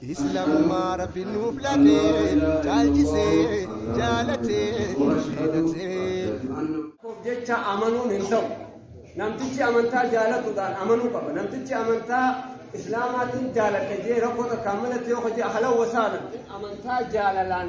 Islamumaa rabbi nuuf latee caalchisee jaalatee filatee. Koof jecha amanuun hin ta'u. Namtichi amantaa jaalatuudhaan amanuu qaba. Namtichi amantaa Islaamaatiin jaaladha jee rakkoo takkaan malatti yoo hojii halawwa saana amantaa jaalalaan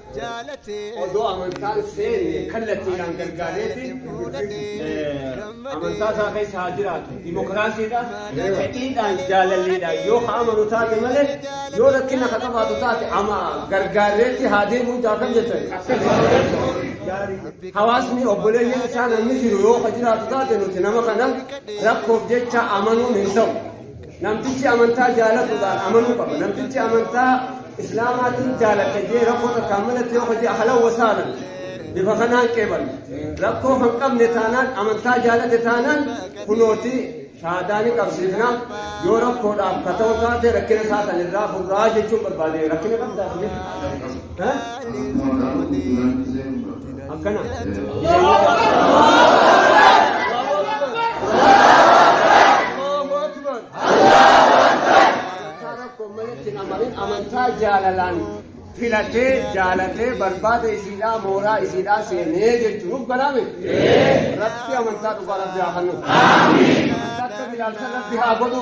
Odoo amantaan seenne kallattiidhaan gargaareeti amantaa isaa keessa haa jiraatu. Dimokiraasiidhaan, fedhiidhaan, jaalalliidhaan yoo ka amanu taate malee yoo rakkina ka qabaatu taate ama gargaareetti haa deemuu taa kan jettan. Hawaasni obboleeyyan isaa namni jiru yoo ka jiraatu taate nuti nama kana rakkoof jecha amanuun hin ta'u. Namtichi amantaa jaalatuudhaan amanuu qaba. Namtichi amantaa Islaamaatiin jaalate jee rakkoo takkaan malatti yoo hojii halan wasaalan bifa kanaan qeeban. Rakkoo kan qabne taanaan amantaa jaalate taanaan kunooti shaadaa ni qabsiifna yoo rakkoodhaaf ka ta'u taate rakkina isaa san irraa furraa jechuun barbaade rakkina qabdaa akkana amantaa jaalalaan filatee jaalatee barbaada isiidhaa mooraa isiidhaa seenee jechuun nuuf galaame rabbi amantaa dhugaa rabbi haa kennu akka bilaalsa rabbi haa godhu